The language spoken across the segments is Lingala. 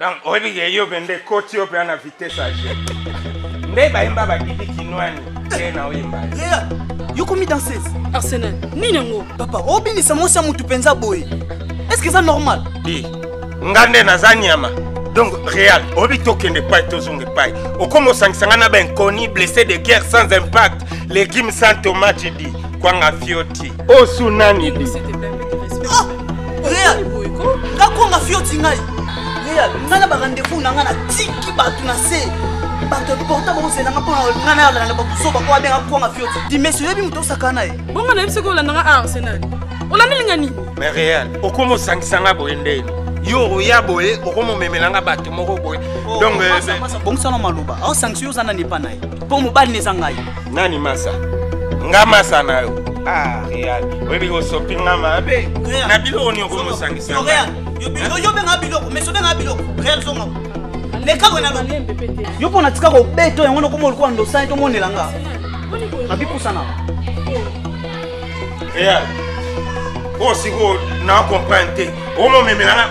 donc oyebi ke yo mpe nde koti yo mpe ana vitesse age nde bayemba badidi kinwani te na oyemba yokomi danseuse arsenal nini yango papa obinisa mwasi ya motu mpenza boye estce eza normal di nga nde naza nyama donc real oyebi tokende epai tozonga epai okoma osangisa ngai na bainconi blessé de guerre sans impact legime sans tomate di kwanga fioti osu nani di ah, real ngakonga fioti ngai real ngai na barendez-vous na ngai natiki bato na se bato porta bakozela nga mpona nga na yalana bakuzoba oyo abenga kwanga fioti dimesi oyebi moto osaka na ye bongo nayebi soki olanda nga arsenal olandi linga nini mais real okoma osangisa nga boye nde yo oya boye okomomemela nga bato moko boye oh, donc eh, bongisa na maloba aosangisa yo oza nani epa na ye mpo mobali na eza ngai nani masa nga masa na yo ah real oyebi osopi nga mabe na biloko nini okomosangisa yo obenga biloko mais obenga biloko real zonga lekako na yo mpo natika kobeto yango nokoma olikuwa ndosani tomonela nga nabipusana real oyo sikoyo na comprendre te omomemela nga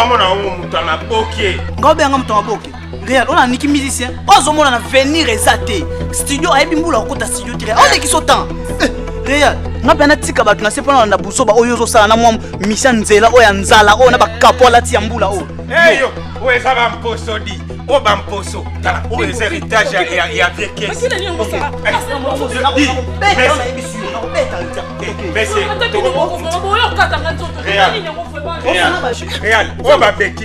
omona oyo moto ya maboke nga obenga moto ya maboke real oyo naniki musicien oyo azomona na venir eza te studio ayebi mbula okota studio te oyo lekisi otan eh, real nga mpe natika bato na se mpona na buzoba oyo ozosala na mwa misia nzela oyo ya nzala oyo na bakapo alati ya mbula oyo eyo oyo eza bamposo di oyo bamposo tala oyo eza heritage ya vie kesi real oyo babeki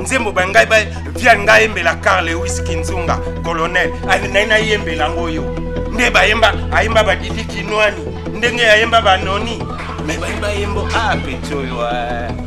nzembo ba ngai ba via ngai yembela carl lewis kinzunga colonel nai nayembela yango yo nde bayemba ayemba badidi kinwani ndenge yayemba banoni me bayemba yembo a peti oyo ah.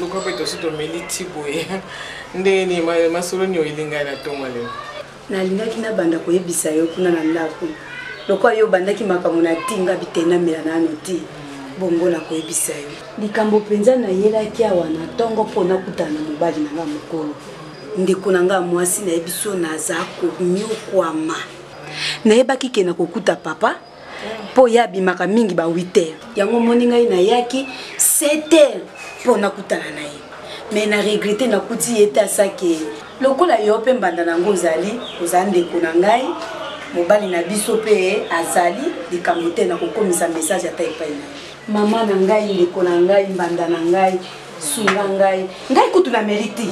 luka mpe tosi tomeli ti boye ndenge nini masolo nio elingai na ntongo lelo nalingaki nabanda koyebisa yo kuna na ndako lokola yo obandaki makambo na ti nga bitenamela nano ti bongo nakoyebisa yo likambo mpenza nayelaki awa na ntongo mpo nakutana na mobali na nga mokolo Ndeko na nga mwasi na biso naza konyokwama. Nayebaki ke na kokuta papa mpo ye abimaka mingi ba 8 heures. Yango omoni ngai nayaki 7 heures mpo nakutana na ye me na regrete nakuti ye te asake lokola yo mpe mbanda na yango ozali oza ndeko na ngai mobali na biso mpe azali likambo te na kokomisa message ata epai na ye mama na ngai ndeko na ngai mbanda na ngai sunga ngai ngai kutu na meli te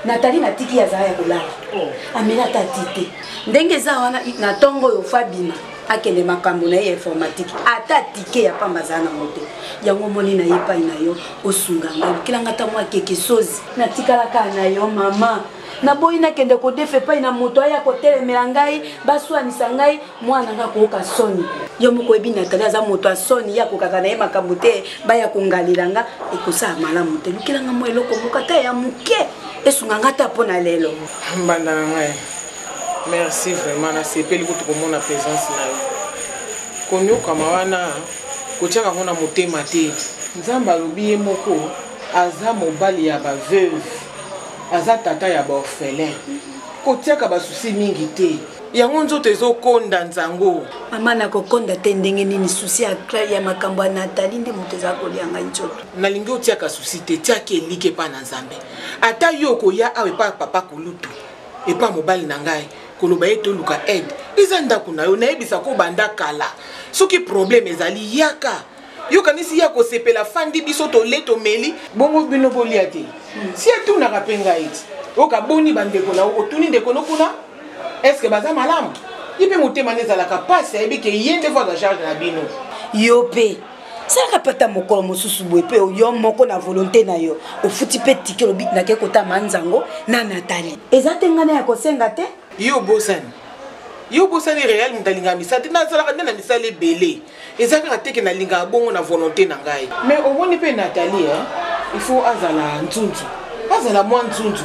natali natiki azala ya kolala oh. ameli ata ti te ndenge eza wana na ntongo oyo fabima akende makambo na ye ya informatique ata tike ya pamba azala nango te yango omoni na ye epai na yo osunga ngai okelanga ntango akeke sozi natikalaka na yo mama naboyi nakende kodefa epai na moto aya kotelemela ngai baswanisa ngai mwana ngai akooka soni yo moko oyebi natali aza moto ya soni ye akokaka na ye makambo te baya kongalela nga ekosala malamu te lukelanga mwa eloko moko ata ya moke esunga nga ata mpo na lelo mbanda na ngai merci vraiment nasepeli kutu komona présence na yo konyokama wana kotyaka yango na motema te nzambe alobi ye moko aza mobali ya baveuve Aza tata ya ba orphelins. Kotiaka ba soucis mingi te. Yango nzoto ezokonda nzango. Maman nakokonda te ndenge nini souci ya Claire ya makambo ya Nathalie nde moto eza kolia ngai nzoto. Nalingi otiaka souci te, tiaki eliki epa na Nzambe. Ata yo okoya awa epa papa kulutu, epa mobali na ngai koloba ye toluka aide. Eza ndako na yo, nayebisa ko banda kala. Soki problème ezali yaka. yo kanisi ye akosepela afandi biso tole tomeli bongo bino bolia te si atunaka mpe ngai ti oyoka boni bandeko na otuni ndeko no kuna estce baza malamu ye mpe motema nde ezalaka mpasi ayebi ke ye nde voa charge na bino yo mpe salaka mpe ata mokolo mosusu boye mpe yo moko na volonté na yo ofuti mpe tike olobi nakei kotama nzango na natali eza te ngai na ya kosenga te yo obosani yo obosani real moto alingaka misala te nazalaka nde na misala ebele eza kaka te ke nalingaka bongo na volonte na ngai mais omoni mpe nathalie hein? il faut azala nzunzu azala mwa nzunzu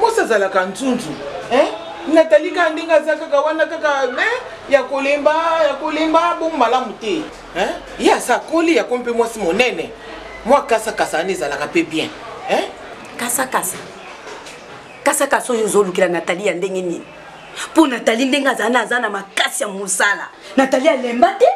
mwasi azalaka nzunzu hein? nathalie kaka ndenge aza kaka wana kaka hein? ya kolemba ya kolemba bongo malamu te hein? ye aza akoli yako mpe mwasi monene mwa kasakasa wana ezalaka mpe bien hein? kasakasa kasakasa oyo ozolukela nathalie ya ndenge nini mpo natali ndenge azali na aza na makasi ya mosala natali alemba te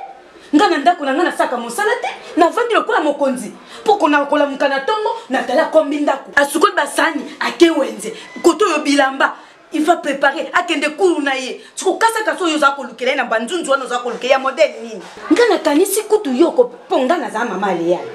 nga na ndako na nga nasalaka mosala te navandi lokola mokonzi mpo kona kolamuka na ntongo natali akombi ndako asukoli basani ake wenze koto oyo bilamba il va préparer akende kulu na ye sikokasaka so oyo oza kolukela ye na banzunzu wana oza kolukela ya modele nini nga nakanisi kutu yoko mpo nga naza mama aleyale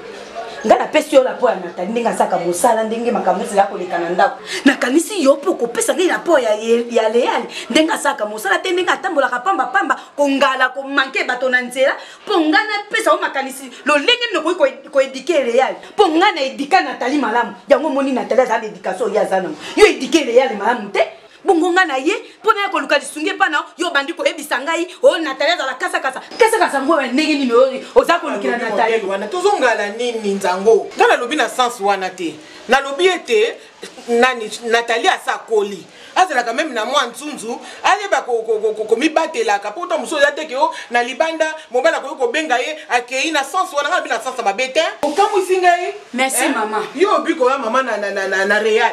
ngai napesi yo lapo ya natali ndenge asaka mosala ndenge makambo nyonso ya koleka na ndako nakanisi yo mpe okopesa ngai lapo ya, ya leali ndenge asaka mosala te ndenge atambolaka pambapamba kongala komanke bato na nzela mpo ngai napesa yo makanisi lolenge nini okoki koedike leali mpo ngai na edika natali malamu yango omoni natali azala na edikatio oyo ye aza nango yo edike leali malamu te bongo ngai na ye mpo naya koluka lisungi epai na yo obandi koyebisa ngai o oh, natali azala kasakasa kasakasa ngo ya ndenge nini oyo oza kolukela natali wana tozongala nini nzango ngai nalobi na sense wana te nalobi ete nani natali asakoli azalaka meme na mwa nzunzu ayeba komibatelaka mpo ta mosusu oza te ke o oh, na libanda mobali akoki kobenga ye akei na sense wana ngai nabi na sense mabe te okamwisi ngai merci eh? mama yo obi koya mama na real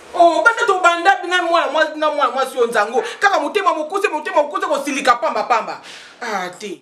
Oh, banda tobanda na mwana mwasi na mwana mwasi oyo nzango kaka motema mokuse motema mokuse kosilika pamba pamba ah te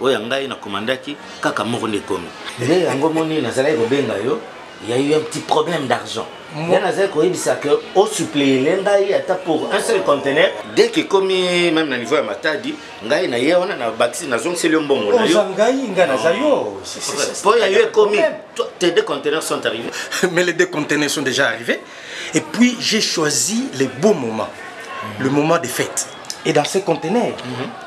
oyo ya ngai na commandaki kaka moko nde ekomi nde yango moni nazalaki kobenga yo ya eu un petit problème d'argent nga nazali koyebisa ke osuplele ngai ata pour un seul contener dès ke ekomi meme na niveau ya matadi ngai na ye wana na bakisi nazongiseli yo mbongo na yo ngai ngai naza yo mpo ya yo ekomi tes deux conteneurs sont arrivés mais les deux conteneurs sont déjà arrivés et puis j'ai choisi les beaux moments le moment des fêtes et dans ces conteneurs mm -hmm.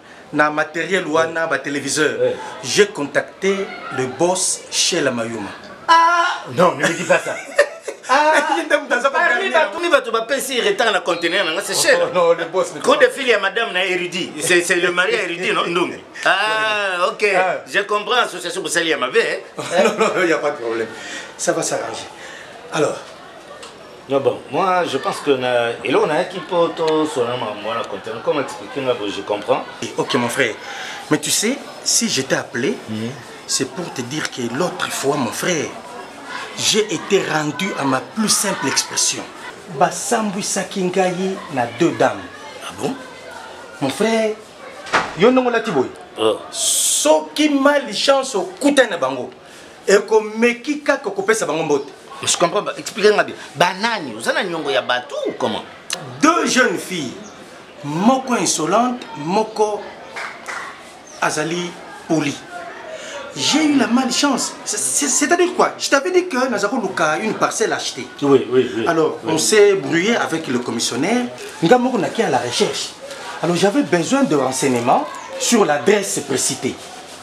na matériel wana ba téléviseur j'ai contacté le boss chez la mayuma ah non ne me dis pas ça parmi bato bapesi retard na conteneur nanga c'est cher coup de fil ya madame na érudi c'est le mari ya érudi no ndungi ah ok je comprends association bosali ya mabe non non il y a pas de problème ça va s'arranger alors Non bon, moi je pense que na eloko nayaki mpo tosona makambo wana content comme explique nga bo je comprends. Ok mon frère, mais tu sais si je t'ai appelé mm -hmm. c'est pour te dire que l'autre fois mon frère j'ai été rendu à ma plus simple expression. Basambwisaki ngai na deux dames. Ah bon? Mon frère, yo ndongo lati boye. Oh. Soki mal chance okutani na bango. ekomeki kaka kopesa bango mbote je comprends pas expliquer nga bien banani oza na nyongo ya bato ou comment deux jeunes filles moko insolente moko azali poli j'ai eu la malchance c'est-à-dire quoi je t'avais dit que naza koluka une parcelle achetée oui, oui, oui, alors oui. on s'est brouillé avec le commissionnaire nga moko naki à la recherche alors j'avais besoin de renseignements sur l'adresse précitée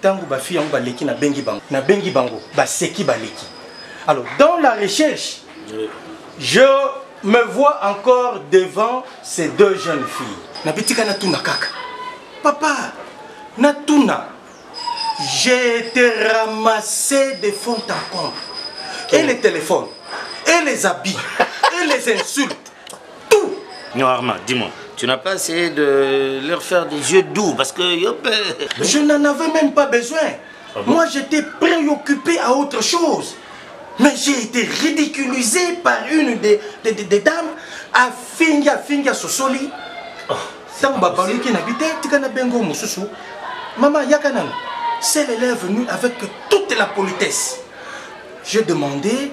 Tango ba fille yango baleki na bengi bango, na bengi bango baseki baleki. Alors dans la recherche, je me vois encore devant ces deux jeunes filles. Na bitika na tuna kaka. Papa, na tuna. J'ai été ramassé de fond en comble. Et les téléphones, et les habits, et les insultes. tout non arma dis moi tu n'as pas essayé de leur faire des yeux doux parce que yop je n'en avais même pas besoin ah bon? moi j'étais préoccupé à autre chose mais j'ai été ridiculisé par une des, des, des, des dames à finga finga sosoli oh, ntango babaluki na bite tika na bengo mosusu mama yaka nano celle elle est venue avec toute la politesse j'ai demandé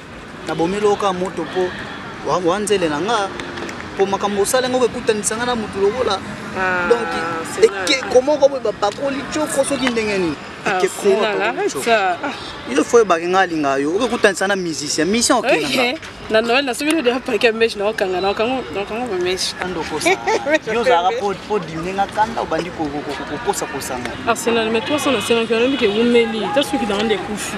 Na bomeli yo kaka moto mpo wanzele na nga mpo makambo osala yango kokutanisa nga na moto lokola ah, donc ekeko moko boye bapakoli coko soki ndenge nini ah, il faut oyebaki nga alingaka yo okekutanisa na musicien musicien okendanga na noel na soki nodea pake ya meshe naokanga naokango bameshe andokosa yo ozalaka po dimine nga kanda obandi kokosa kosanga arsenal mais 300 na 5 alobi ke wumeli ta soki nanga nde ekufi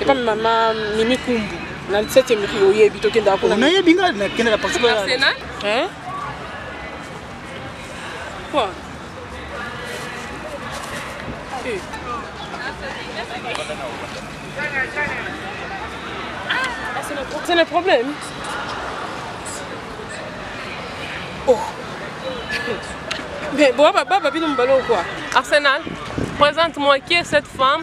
epa mama mimi kumbu na 17 miki oyebi tokendaka kuna nayebi nga nakendaka parceke quoi eh. C'est le problème. Oh. Mais bon, papa, papa, nous quoi Arsenal, présente-moi qui est cette femme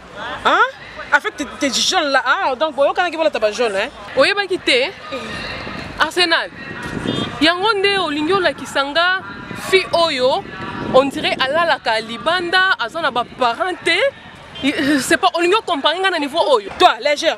Hein? Avec tes, tes jeunes là, ah, donc bon, quand on a pas jaune, hein? Oye ba quitté. Arsenal. Yango nde olingi olakisa nga fi oyo on dirait alalaka libanda aza na ba parents te c'est pas olingi okompare nga na niveau oyo toi légère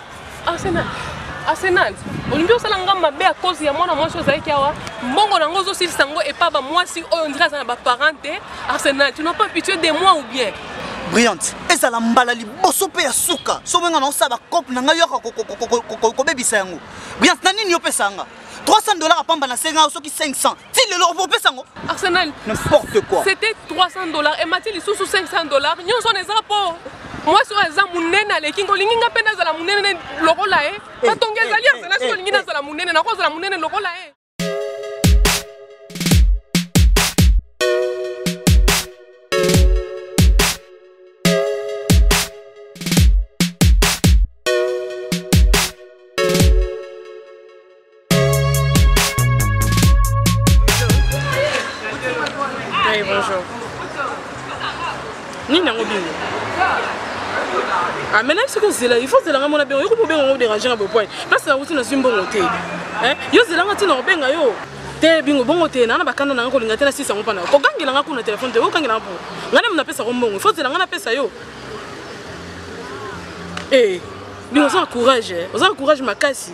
Arsenal. Arsenal. Olingi osala nga mabe à cause ya mwana mwasi ozalaki awa mbongo na yango ozosilisa yango epa bamwasi oyo ondire aza na baparent te arsenal tu n'as pas pitié de moi ou bien brillante ezala mbala liboso mpe ya suka soki nga naosala bacope na ngai yoka kobebisa yango brillante na nini yopesa yanga 300 dollar apamba na senga soki 500 ti lelo opesa yango arsenal n'importe quoi c'était 300 dollars emati lisusu 500 dollars nyonso wana eza mpo mwasi oyo aza monene aleki nga olingi nga mpe nazala monene lokola ye batongi eh, eh, ezali arsenal eh, soki olingi nazala monene nakozala monene lokola ye Oui, bonjour. Nini yango bino? Ah, maintenant ce que c'est là, il faut zela ngamona bien. Yo ko bobenga ngo déranger na bopoint. Parce na wuti na zimbo ngote. Hein? Yo zela ngati na obenga yo. Te bingo bongo te na na bakanda na ngo linga te na sisa ngo pana. Ko gangela nga kuna téléphone te, ko gangela ngo. Ngana mna pesa ko mbongo. Il faut zela ngana pesa yo. Eh, bingo za courage. Oza courage makasi.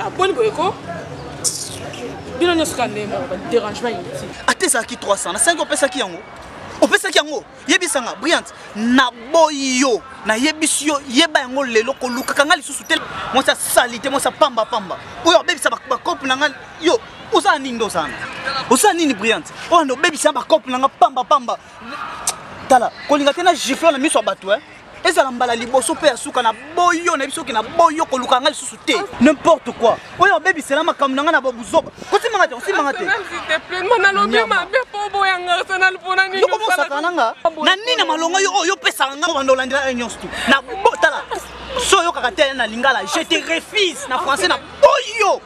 aboni ah, boye ko bino nyonso kaka ndenge moko baderangement inutile ata ezalaki 300 na 5 opesaki yango opesaki yango yebisa nga briant naboyi yo nayebisi yo yeba yango lelo kolukaka nga lisusu te mwasi asali te mwasi apamba pamba oyo abebisa bakope na nga yo ozala nini nde ozana ozala nini briant oyo nde obebisa bakope na nga pamba pamba tala kolinga te na gifle na miso ya bato e eh? ezala mbala liboso mpe ya suka na boyo na biso ke na boyo koluka ngai lisusu te n'importe quoi oyo obebisela makambo na ngai na babuzoba kosimanga te kosimanga te yokomosaka na nga na nini na malonga yo oyo opesaka ngai obanda olandela yo nyonso tu na botala so oyokaka te na lingala je te refuse na français na boyo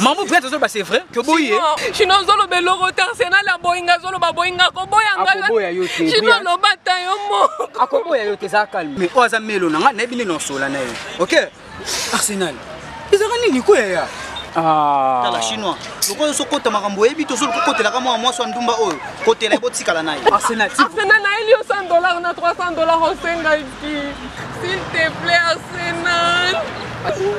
Mamu Brent azoloba c'est vrai que boyi ye. Chino azoloba eloko te Arsenal aboyinga azoloba aboyinga akoboya nga. Akoboya yo te. Chino aloba ta yo moko. Akoboya yo te za calme. Mais oyo aza melo na nga nayebi nini osola na ye. OK? Arsenal. Ezaka nini ko yaya? Ah. Tala chinois. Lokola so kota makambo oyebi to so kokotela ka mwa mwasi wa ndumba oyo. Kotela ye botikala na ye. Arsenal. Arsenal na elio 100 dollars na 300 dollars osenga ki. S'il te plaît Arsenal.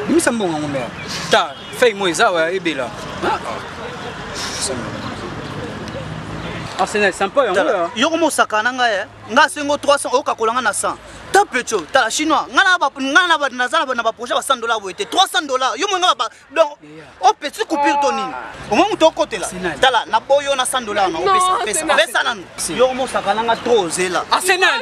Bimisa mbongo yango mère. ta fei mo eza wa ebela ah, ah. arsenal sampo yango yoko mosaka na ngai eh. ngai sengo 300 okakola ngai na 100 ta pecho tala chinois ngai naza na baprojet ba 100 dollar boye te 300 dollar yo moi ngai donc o petit coupure to nini ah. omoi moto okotela tala na boyo na 100 dollar na opesa pesa nanu yoko mosaka na ngai trop ozela arsenal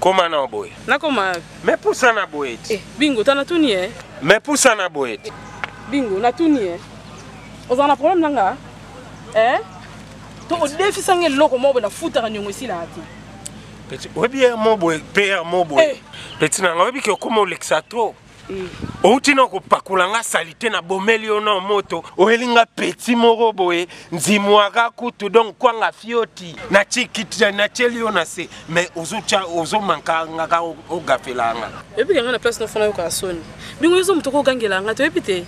koma na boye nakoma me pusa na boye eh, bingo ta natuni e eh. me pusa na boye eh, bingo natuni e eh. ozala na problème na nga eh? to odefisa nga eloko moko boye nafutaka niongo esilaka te oyebi ye mo boye mpe ya mo boye peti na nga oyebi ke okoma olekisa trop outi na kopakola nga salite na bomeli yo na moto oyeli nga peti moko boye nzimwaka kutu donc kwanga fioti natyeli yo na se mais ozomanka nga ka ogafela nga eyebi yanga na place nofana yokaka soni ndenge oyozo moto ko ogangela nga toyebi te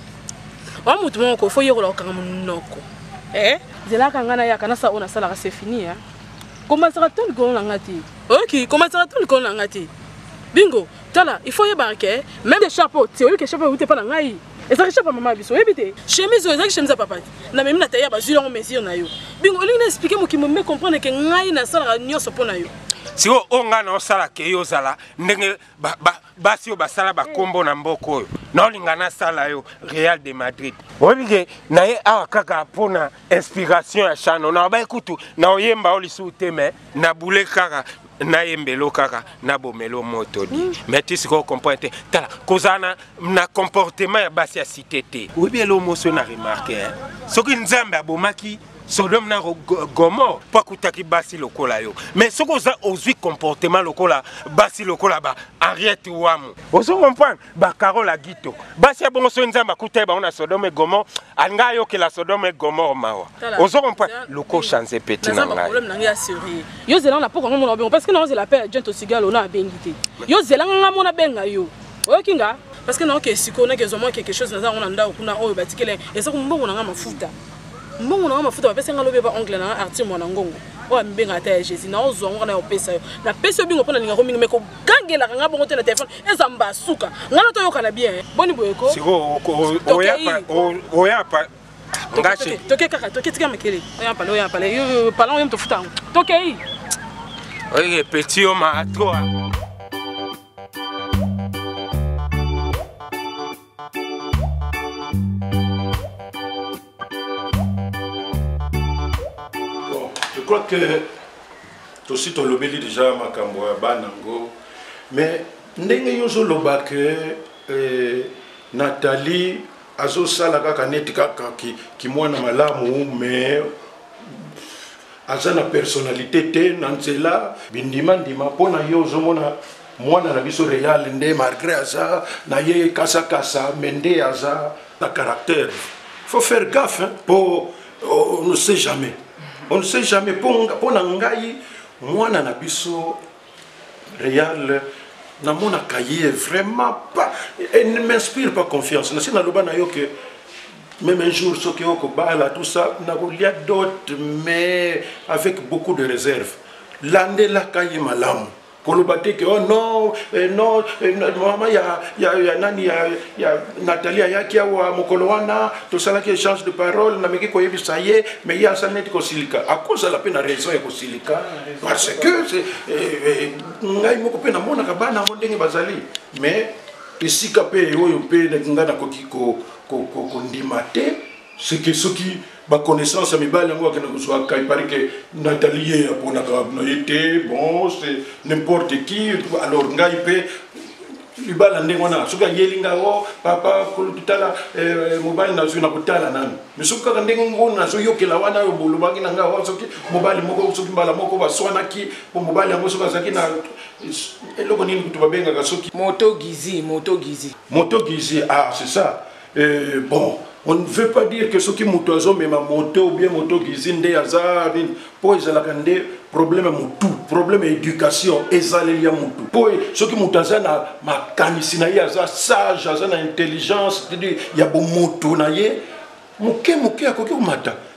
wa moto moko ko fo yekola kokanga monoko eh? zelaka nga nayaka nasala oyo nasalaka se fini ya komatisaka to likolo na nga te oyoki komatisaka to likolo na nga te bingo Tala, il faut yebaka ke même des chapeaux, tu oyebi ke chapeau ewute pa na ngai. Ezalaki chapeau mama biso, oyebi te? Chemise oyo ezalaki chemise ya papa. Na memi na taille ya bazui yango mesure na yo. Bingo olingi na expliquer mokimo me comprendre ke ngai na salaka nyonso mpo na yo. Siko oyo ngai na osala ke yo ozala ndenge ba, ba, basi oyo basala bakombo na mboka oyo na olinga nasala yo Real de Madrid. Oyebi ke na ye awa kaka mpo na inspiration ya chano na obai kutu na oyemba yo lisusu te me na boule kaka na yembelo kaka na bomelo moto di mm. mais ti sikoyo comprendre te tala kozala na, na comportement ya basi ya site te oyebi elo moso na remarke eh? soki nzambe abomaki sodome na gomor mpo akutaki basi lokola yo mais soki oza ozwi comportement lokola basi lokola ba henriette wamu ozo comprendre ba Carole Agito basi ya bongo soki nzambe akuta ye bango na Sodome Gomor alinga ayokela Sodome Gomor mawa ozo comprendre loko chance petit na ngai problème na ngai assurer yo zela na poko ngomona bongo parce que na ozela appel agent osigalo na abengi te yo zela nga mona benga yo oyoki nga parce que na oke siko na kezo mwa quelque chose naza ngona ndao kuna oyo batikele eza ko mbongo na nga mafuta mbongo na nga mafuta bapesa nga lobe ba ongle na nga artir mwana ngongo oyo amibengaka ata ya jésus na ozwa ngo na opesa yo napesi yo bingo mpo na lingako mingi meko kangelaka nga bongo te na telefone eza mba suka nga na toyokana bien eh. boni boyeko toke kaka toke tika makele oyampale oyampale pala oyo motofuta yango tokei oye petit yo ma toi Bon, je crois que tosi tolobeli déjà makambo ya bana yango mais ndenge yo ozoloba ke eh, nathalie azosala kaka neti kaka kimwana ki malamu mais aza na personnalité te na nzela bindimandima mpo na yo ozomona mwana na biso real nde malgré aza na ye kasakasa me nde aza na caractère faut faire gaffe mpo oh, on ne sait jamais on ne sait jamais mpo na ngai mwana na biso real namonaka ye vraiment pas et ne m'inspire pas confiance nasi naloba na yo ke même un jour soki okobala tout ça nakolia dote mais avec beaucoup de réserve landelaka ye malamu koloba te ke oh non eh, non eh, mama ya, ya, ya nani ya, ya nathalie ayaki awa mokolo wana tosalaki échange de parole nameki koyebisa ye me ye asali neti kosilika akozala mpe na raison ya kosilika parce que eh, eh, ngai moko mpe namonaka bana yango ndenge bazali mais esika mpe oyo mpe ngai nakoki kondima ko, ko, ko, te ce que soki ba connaissance ya mibali yango akende kozwa kai pari ke natali ye aponaka na ye te bon c'est n'importe qui alors ngai mpe libala ndenge wana soki ayeli ngai o oh, papa kolokitala eh, eh, mobali nazwi na kotala nani mi soki kaka ndenge ngo nazoyokela wana oyo bolobaki na ngai oh, soki mobali moko soki mbala moko baswanaki mpo mobali yango soki azalaki na eloko nini kutu babengaka soki moto gizi moto gizi moto gizi ah c'est ça Eh, bon on ne veut pas dire que soki moto azomema moto bien moto kizi nde aza nini mpo ezalaka nde problème ya motu problème ya éducation ezaleli ya motu mpo soki moto aza na makanisi na ye aza sage aza na intelligence ya bomoto na ye moke moke akoki komata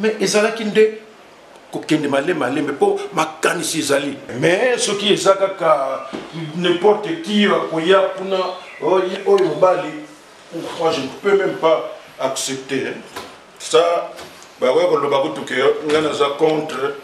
mais ezalaki nde kokende malembe malembe mpo makanisi ezali mais soki eza kaka n'importe qui akoya kuna oh, oyo mobali moi je ne peux même pas accepter ça bakoya koloba kutuke ngai naza contre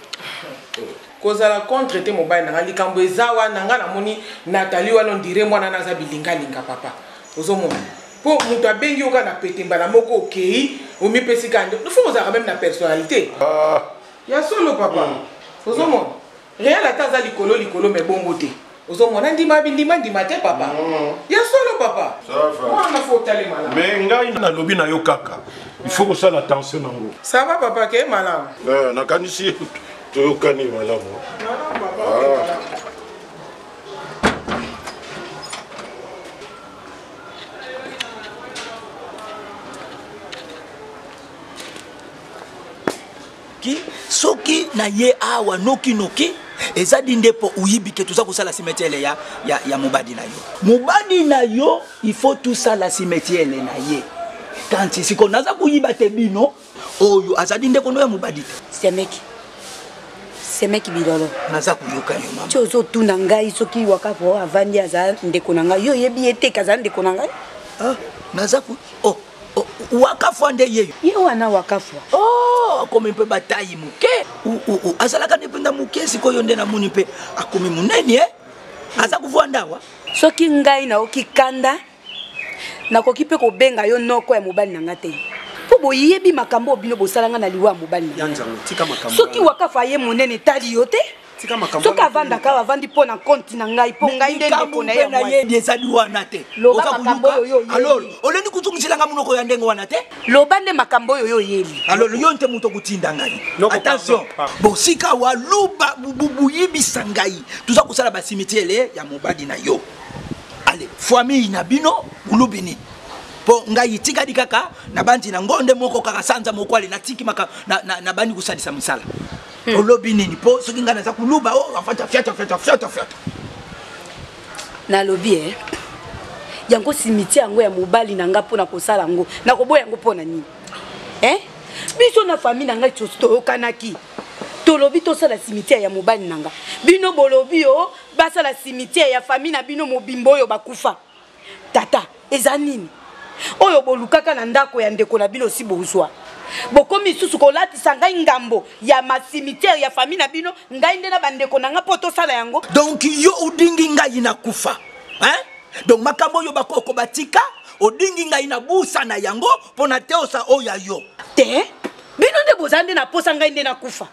kozala contre te mobali nanga likambo eza wana ngai namoni natali wana ondire mwana naza bilingalinga papa ozomona po moto abengi yo kaka na pete mbala moko okei omipesi kaka nde fo ozalaka meme na personnalité ah. ya solo papa mm. ozomona real ata aza likolo likolo me bongo te ozomona ndima bindima ndima te papa mm. ya solo papa wana fo otalema na me ngai nalobi na yo kaka il faut kosala attention nango ça va papa ke malamu eh, nakanisi toyokani malamu ah. soki na ye awa nokinoki eza di nde mpo oyibi ke toza kosala simetiele ya, ya, ya mobadi na yo mobadi na yo il faut tosala simetiele na ye kanti siko naza koyiba te bino oyo azali ndeko no ya mobali semeki semeki bilolo naza koyoka yo mama ti ozotuna ngai soki wakapo oyo avandi aza ndeko na ngai yo oyebi ye te kazala ndeko na ngai ah, naza ko oh, oh, wakafwa nde yeyo ye wana wakafwa oh, akomi mpe batayi moke azalaka nde mpenza moke sikoyo nde namoni mpe akomi monene eh? aza kovwanda awa soki ngai naoki kanda nakoki mpe kobenga yo noko ya mobali na nga te mpo boyebi makambo oyo bino bosala nga na liwa ya mobali na soki wakafa ye monene etali yo te soki avandaka awa avandi mpo na konti na ngai mpo ngai nde ndeko na ye na yebi ezali wana te loba makambo oyo oyebi olingi kotungisa nga monoko ya ndenge wana te loba nde makambo oyo yo oyebi alors yo nte moto okotinda ngai attention bon sika wa luba buyibisa ngai toza kosala basimitiele ya mobali na yo ale famille na bino ulubi nini mpo ngai etikali kaka nabanzi na ngo nde moko kaka sanza moko ale natiki maka nabandi kosalisa mosala hmm. olobi nini mpo soki ngai naza koluba o oh, afata fiata fiata fiata fiata nalobi e yango simiti yango ya mobali na ngai mpo na kosala yango nakoboya yango mpo na nini e biso na famille na ngai toyokanaki tolobi tosala simitiare ya mobali na ngai bino bolobi o oh, basala cimetière ya famille na bino mobimba oyo bakufa tata eza nini oyo bolukaka na ndako ya ndeko na bino osi bozwa bokomi lisusu kolatisa ngai ngambo ya macimetière ya famille na bino ngai nde na bandeko na ngai mpo tosala yango donc yo odingi ngai na kufa hein? donc makambo oyo bakoko batika odingi ngai na busa na yango mpo na teosa oyo ya yo te bino nde boza nde na posa ngai nde nakufa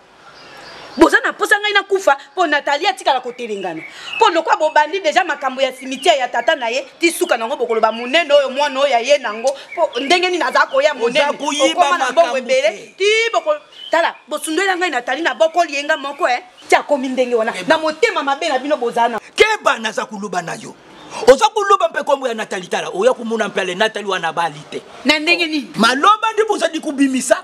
boza na posa ngai nakufa mpo natali atikala kotelengana mpo lokwa bobandi deja makambo ya cimetiere ya tata na ye ti suka nango bokoloba monene oyo mwana oyo aye nango mpo ndenge nini aza koya moneneokoma na mbongo ebele ti boko tala bosundwela ngai natali na bokoli ye nga moko e eh. ti akomi ndenge wana na motema mabe na bino bozala na keba naza koloba na yo oza koloba mpe nkombo ya natali tala oya komona mpe ale natali wana bali te na ndenge nini maloba nde bozali kobimisa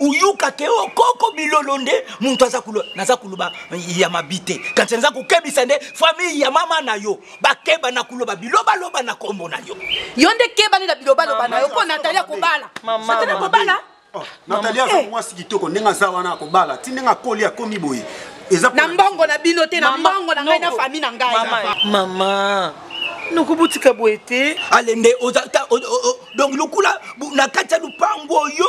uyuka ke o oh, koko bilolo nde muntu aza kulo naza kuluba ya mabite kanti naza kokebisa nde famille ya mama na yo bakeba na kuloba biloba loba na kombo na yo yo nde keba nde na biloba loba na yo ko natali akobala natali akobala oh, natali aza eh. mwasi kitoko ndenge aza wana akobala ti ndenge akoli akomi boye eza na mbongo na bino te na mbongo na ngai na famille na ngai mama nokobotika boye te alende donc lokula na kati ya lupangu oyo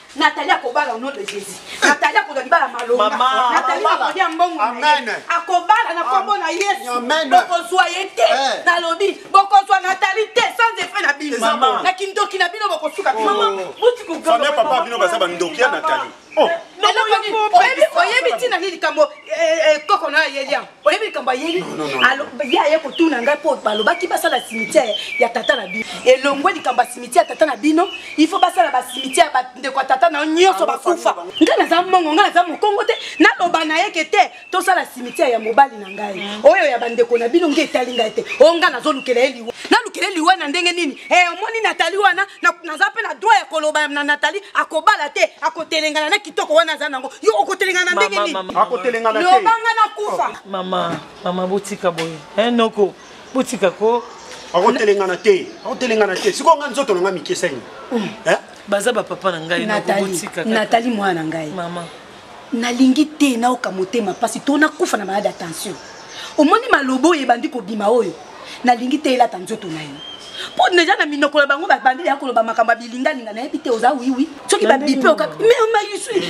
Nathalie akobala au nom de Jésus. Nathalie akozwa libala malonga. Nathalie akolia mbongo na ye. Akobala na kombo na Yesu. Bokozwa ye te. Eh. Nalobi bokozwa Nathalie te sans effet na bino. Na kindoki na bino bokosuka. Oh. Mama, muti ko gamba. Famille papa bino baza ba ndoki ya Nathalie. Oh. Oyebi tina nini likambo eh, eh, koko na ye liam. oyebi likambo ayebi ye aye kotuna ngai mpo balobaki basala cimetière ya tata na bino elongwe likambo ya cimetière ya tata na bino il faut basala bacimetière bandeko ya tata na yo nyonso bakufa ngai naza mongo ngai naza mokongo te naloba na ye ke te tosala cimetière ya mobali na ngai mm. oyo ya bandeko na bino nge etali ngai te oyo ngai nazolukela ye liwa nalukela ye liwa na ndenge nini e omoni natali wana naza mpe na droit ya koloba na natali akobala te akotelengana na kitoko wana aza nango yo okotelengana ndenge niniakotelengana lobanga na kufa oh. mama mama botika boye eh, noko botika ko akotelengana te akotelengana te sikoyo nga nzoto na nga mikesani mm. eh? baza bapapa na ngai natali mwana na ngai nalingi te naoka motema mpasi to nakufa na maladi ya tension omoni maloba oyo ebandi kobima oyo nalingi te elata nzoto na yo mpo deja na minoko na bango babandi ya koloba makambo ya bilingalinga nayebi te oza wiwi soki babipe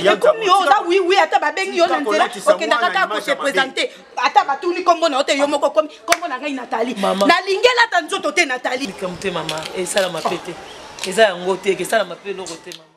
ekomi oza wiwi ata babengi yo na nzela okendaka kaka kose présente ata batuni nkombo na yo te yo moko okomi nkombo na ngai natali nalingi elata nzoto te natali motema mama esalama pe te eza yango te ekesalama pe eloko te mama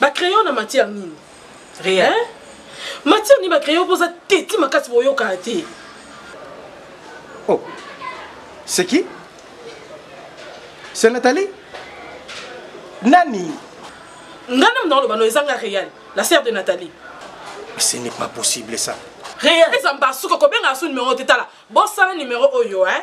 ba crayon na matière nini rien hein? matière nini ba crayon poza teti makasi boyokana te oh c'est qui c'est Nathalie nani nga na mna oloba no ezanga réel la sœur de Nathalie ce n'est pas possible ça réel eza mbasuka kobenga asu numéro te tala bosala numéro oyo hein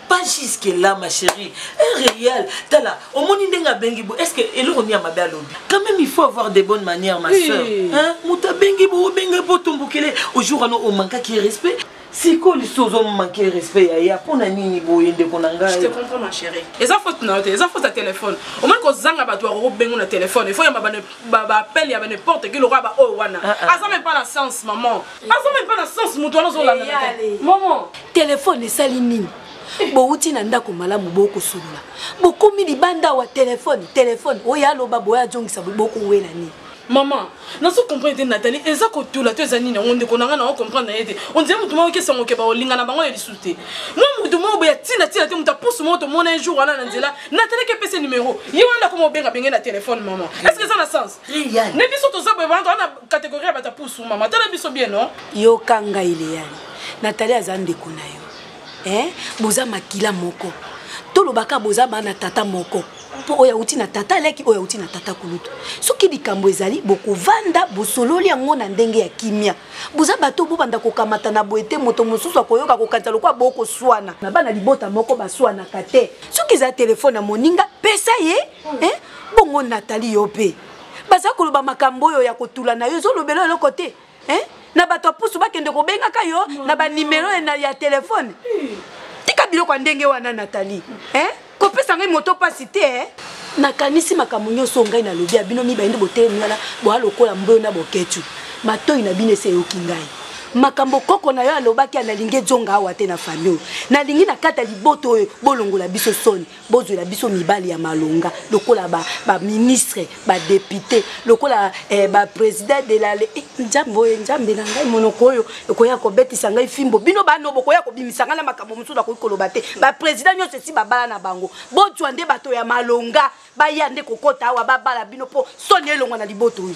pas jusque là ma chérie un réel tala omoni ndenge abengi bo est ce que eloko nini ya mabe alobi quand même il faut avoir des bonnes manières ma oui. soeur hein? moto abengi bo obenga po otombokele ojour wana omankaki respect sikoyo lisusu ozomanke respect ya ya mpo na nini boye ndeko na ngai eza faute na yo te eza faute ya telefone omoni kozanga bato ya kokobengo na telefone efo yamba baappel ya baneporte ki lokola baoyo wana ah, ah. aza meme pas na sens maman aza meme mpe na sens moto wana ozolanda momo telefone esali nini bowuti na ndako malamu bokosolola bokomi libanda awa telefone telefone oyo aloba boye azongisa bokowela nini mama nazo comprendre te natali eza kotula to eza nini yango ndeko na ngai nango comprendre na ye te ondire motu moko kesa moke baolinga na bango ya lisusu te mwa motu moko boya ntina ntina te moto apusu moko tomona un jour wana na nzela natalaki epese numero ye wana akoma obenga benge na telefone mama est ce que eza na sens na biso toza boye wana towana Categorie ya bato ya pusu mama tala biso bien no. Yoka ngai Leane. Nathalie aza ndeko na yo. Eh boza makila moko. Tolobaka boza bana tata moko. mpo oyo auti na tata aleki oyo auti na tata kulutu soki likambo ezali bokovanda bosololi yango na ndenge ya kimia boza bato bobanda kokamata na boye te moto mosusu akoyoka kokanisa lokola bokoswana na bana libota moko baswanaka te soki eza telefone ya moninga pesa ye eh? bongo natali yo mpe baza koloba makambo oyo ya kotula na yo ezolobela eloko te eh? na bato ya pusu bakende kobengaka yo na banimero ya telefone tika biloko ya ndenge wana natali eh? kopesa ngai moto mpasi te eh? nakanisi makambo nyonso ngai nalobi ya bino mibale nde botelemi wana boya lokola mboyo na boketu matoi na bino esi eyoki ngai makambo koko na yo alobaki nalingi ezonga awa te na fami oyo nalingi na kata liboto oyo bolongola biso soni bozwela biso mibali ya malonga lokola baministre ba badepute lokola eh, baprésident de la eh, nzambe oyo nzambe na ngai monoko oyo ekoya kobetisa ngai fimbo bino bano bokoya kobimisa ngai na makambo mosusu nakoki koloba te baprésident nyonso esi babala na bango bozwa nde bato ya malonga baya nde kokota awa babala bino mpo soni elongwa na liboto oyo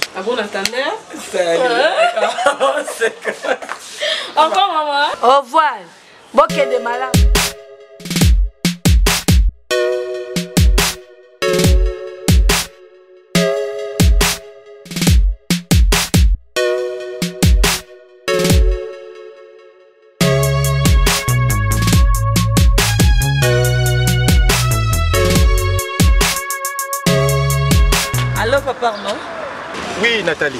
Au revoir. bokende malamu Nathalie.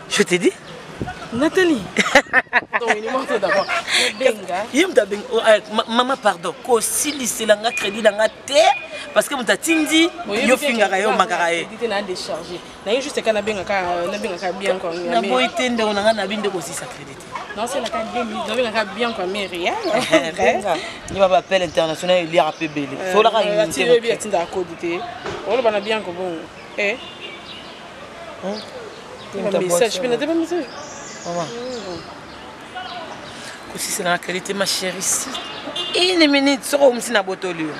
je te dis Nathalie. ye moto abengi oh, eh, mama pardon kosilisela nga crédit na nga te parce que moto atindi yo fingaka ye omakaka ye naboyi te ndeko na nga nabi nde kosisa crédit yeba bapele international eliaka mpe bele solaka oloba na bianco bongo Hmm? Ba message pe na te ba message. Maman. Hmm. Kosisa na qualité ma chérie si. Une minute soko omsi na botoli yo.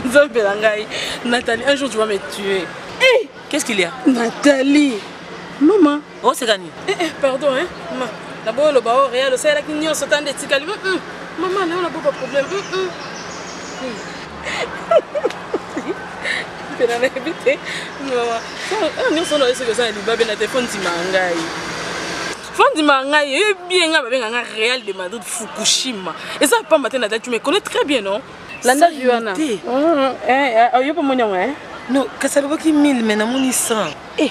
Nzambe na ngai. Nathalie, un jour tu vas me tuer. Hey! Qu'est-ce qu'il y a Nathalie. Maman. oseka nini eh, eh, pardon eh, ma naboyi oloba o oh, real osalelaki nyonso tanda etikali mm, mm. mama nayo naboyi baproblème mm, mpena nayebi te mama ah, nyonso wana oye soki oza na libabe na te fo ndima ngai fondima ngai eyebi bien ngai babenga ngai real de madrid fukushima eza pamba te na dati mais connais très bien non landa vi wana oyo mpo moni yango non kasi alobaki 1000 mais namoni 100 eh